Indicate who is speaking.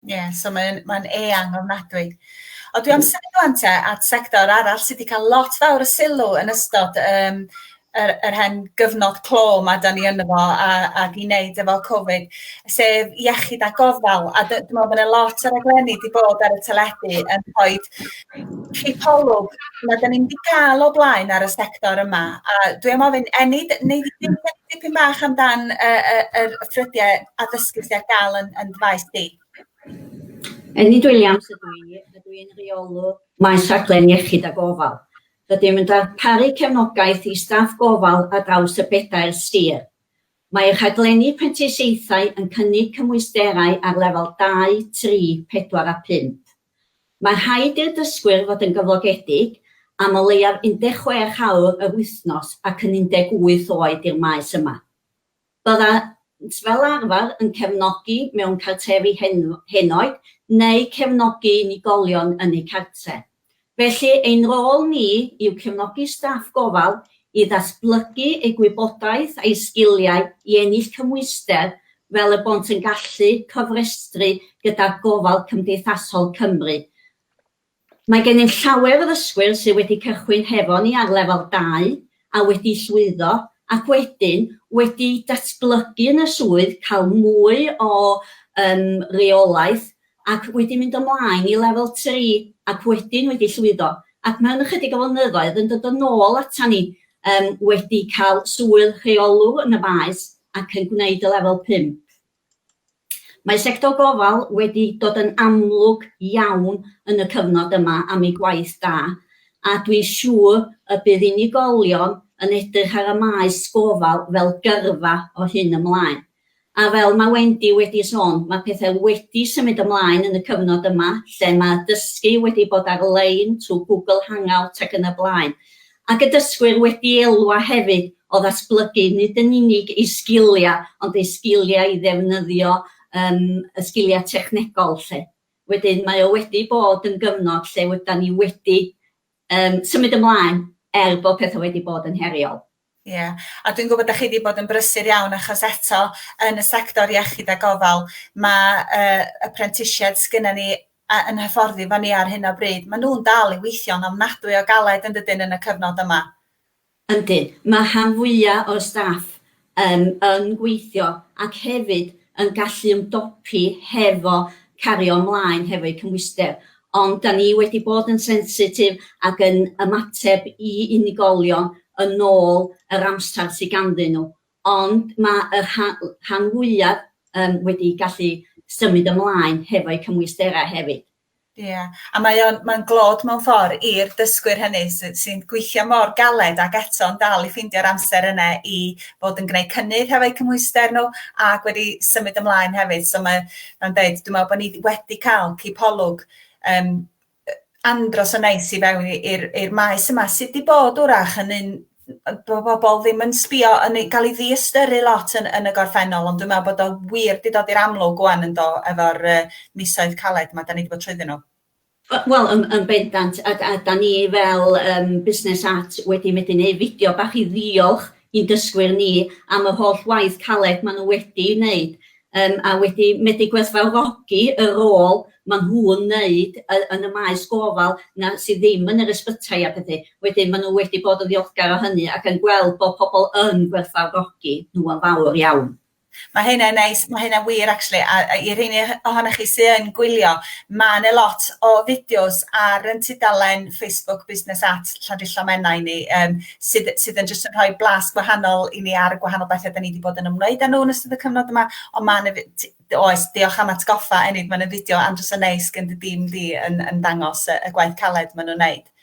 Speaker 1: Ie, so mae'n mae'n eang ofnadwy. Ond dwi am symud ŵan te at sector arall sydd wedi cael lot fawr o sylw yn ystod um, yr, yr hen gyfnod clo mae da ni ynddo fo a, ac i wneud efo Covid, sef iechyd a gofal. A dwi'n meddwl bod yna lot o raglenni wedi bod ar y teledu yn rhoi cipolwg na da ni'n wedi cael o blaen ar y sector yma. A dwi am ofyn, Enid, neu ddim dipyn bach amdan y, y, y, y ffrydiau
Speaker 2: addysgu sydd ar gael yn, yn faes di? Enid Williams ydw i, ydw i'n rheolwr maes rhaglen iechyd a gofal. Rydym yn darparu cefnogaeth i staff gofal ar draws y bedair sir. Mae rhaglenni prentisiaethau yn cynnig cymwysterau ar lefel 2, 3, 4 a 5. Mae rhaid i'r dysgwyr fod yn gyflogedig am o leiaf 16 awr yr wythnos ac yn 18 oed i'r maes yma. Byddant fel arfer yn cefnogi mewn cartrefi henoed neu cefnogi unigolion yn eu cartref. Felly, ein rôl ni yw cefnogi staff gofal i ddatblygu eu gwybodaeth a'u sgiliau i ennill cymhwyster fel y bont yn gallu cofrestru gyda Gofal Cymdeithasol Cymru, Mae gennym llawer o ddysgwyr sydd wedi cychwyn hefo ni ar lefel dau a wedi llwyddo ac wedyn wedi datblygu yn y swydd, cael mwy o yym reolaeth ac wedi mynd ymlaen i lefel tri ac wedyn wedi llwyddo ac mewn ychydig o flynyddoedd yn dod yn ôl atan ni yym wedi cael swydd rheolwr yn y maes ac yn gwneud y lefel pump. Mae sector gofal wedi dod yn amlwg iawn yn y cyfnod yma am ei gwaith da, a dwi'n siŵr y bydd unigolion yn edrych ar y maes gofal fel gyrfa o hyn ymlaen. A fel mae Wendy wedi sôn, mae pethau wedi symud ymlaen yn y cyfnod yma lle mae dysgu wedi bod ar-lein trwy Google Hangout ac yn y blaen, Ac y dysgwyr wedi elwa hefyd o ddatblygu nid yn unig eu sgiliau ond eu sgiliau i ddefnyddio yym y sgiliau technegol 'lly. Wedyn mae o wedi bod yn gyfnod lle ydan ni wedi yym symud ymlaen er bod petha wedi bod yn heriol. Ie a dwi'n
Speaker 1: gwybod 'dach chi 'di bod yn brysur iawn achos eto yn y sector iechyd a gofal ma' yy y prentisiaid sgynnon ni a yn hyfforddi efo ni ar hyn o bryd, maen nhw'n dal i weithio'n ofnadwy o galed yn dydyn yn y cyfnod yma. Yndyn,
Speaker 2: mae rhan fwya' o'r staff yym yn gweithio ac hefyd yn gallu ymdopi hefo cario ymlaen hefo'u cymhwyster, ond 'da ni wedi bod yn sensitif ac yn ymateb i unigolion yn ôl yr amsar sy ganddyn nhw, Ond mae y rhan fwyaf yym wedi gallu symud ymlaen hefo'u cymwysterau hefyd. Ia, a mae
Speaker 1: o'n mae'n glod mewn ffordd i'r dysgwyr hynny sy- sy'n gweithio mor galed ac eto'n dal i ffeindio'r amser yna i fod yn gwneud cynnydd hefo'u cymhwyster nhw ac wedi symud ymlaen hefyd. So mae mae'n deud dwi'n meddwl bod ni wedi cael cipolwg yym andros o neis i fewn i i'r i'r maes yma sydd 'di bod 'w'rach yn un yy bo' bobol ddim yn sbio yn ei ga'l 'i ddiystyru lot yn yn y gorffennol ond dwi me'wl bod o wir 'di dod i'r amlwg ŵan yndo efo'r yy misoedd caled 'ma 'dan ni 'di bod trwyddyn nhw. We- wel yn
Speaker 2: yn bendant a d- a 'dan ni fel yym busnes art wedi medru neu' fideo bach i ddiolch i'n dysgwyr ni am yr holl waith caled ma' n'w wedi neud yym a wedi medru gwerthfawrogi y rôl ma' nhw'n neud y- yn y maes gofal 'na sy ddim yn yr ysbytai a phethe. Wedyn ma' nhw wedi bod yn ddiolchgar o hynny ac yn gweld bod pobl yn gwerthfawrogi nhw yn fawr iawn. Ma' hynna'n
Speaker 1: neis, ma' hynna'n wir actually a a i'r rheiny o- ohonoch chi sy yn gwylio ma' 'ne lot o fideos ar 'yn tudalen Facebook Busnes at Llandrillo Menai ni yym sydd sydd yn jyst yn rhoi blas gwahanol i ni ar y gwahanol bethe 'dan ni 'di bod yn ymwneud â nhw yn ystod y cyfnod yma ond ma' 'na fi- t- d- oes diolch am atgoffa Enid ma' 'na fideo andros o neis gen dy dîm di yn yn dangos y y gwaith caled ma' nw'n neud.